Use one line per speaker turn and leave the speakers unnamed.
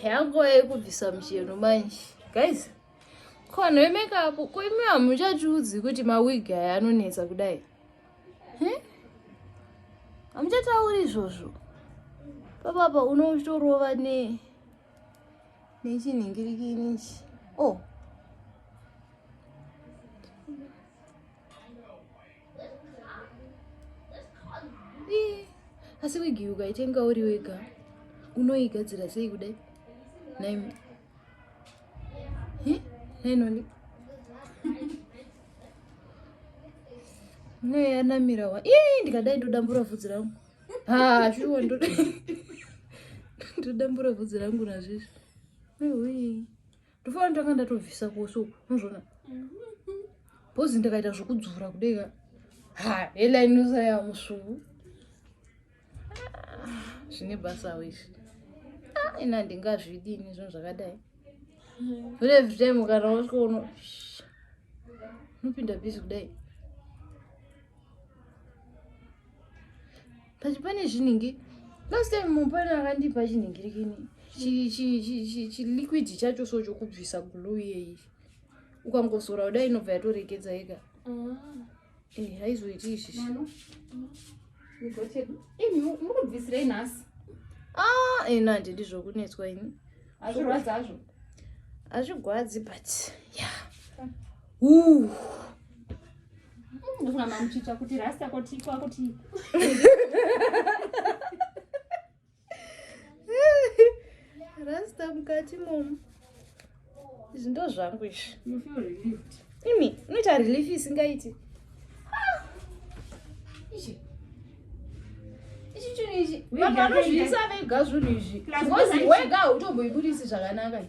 yanguva yekubvisa mucheno manje guys ko vanhu vemekapu ko imi hamuchatiudzi kuti mawigi aya anonetsa kudai hamuchatauri izvozvo papapa unotorova ne nechinhingirikinichi o oh. asi wigi ukaitenga uri wega unoigadzira sei kudai naimi nainoni neyanamira wa ii ndikadai ndodambura vhudzi rangu ha shuwa ndodambura vhudzi rangu nazvizvi ndofana ndanga ndatobvisa kose uku unozviona bhozi ndakaita zvekudzura kudeka ha helainosa yamusvuu zvine basa wese ah, ina ndingazvidini zvinhu zvakadai but every time kana wasvika uno unopinda bhizi kudai but pane zvinhingi last time mupana akandipa chinhingirikini chiliquid chacho so chokubvisa glue yeyi ukangosora kudai inobva yatoregedza yega ah. eh, haizoiti izvi munobvisirei nhasi ah, eh, ina handidi zvokunetswa ini hazvirwadzi hazvo hazvigwadzi but ya yeah. rasta mukati momu izvi ndo zvangu izvi imi unoita relief isingaiti vanhu vanozviisa vega zvinhu izvi wega hautomboibudisi zvakanaka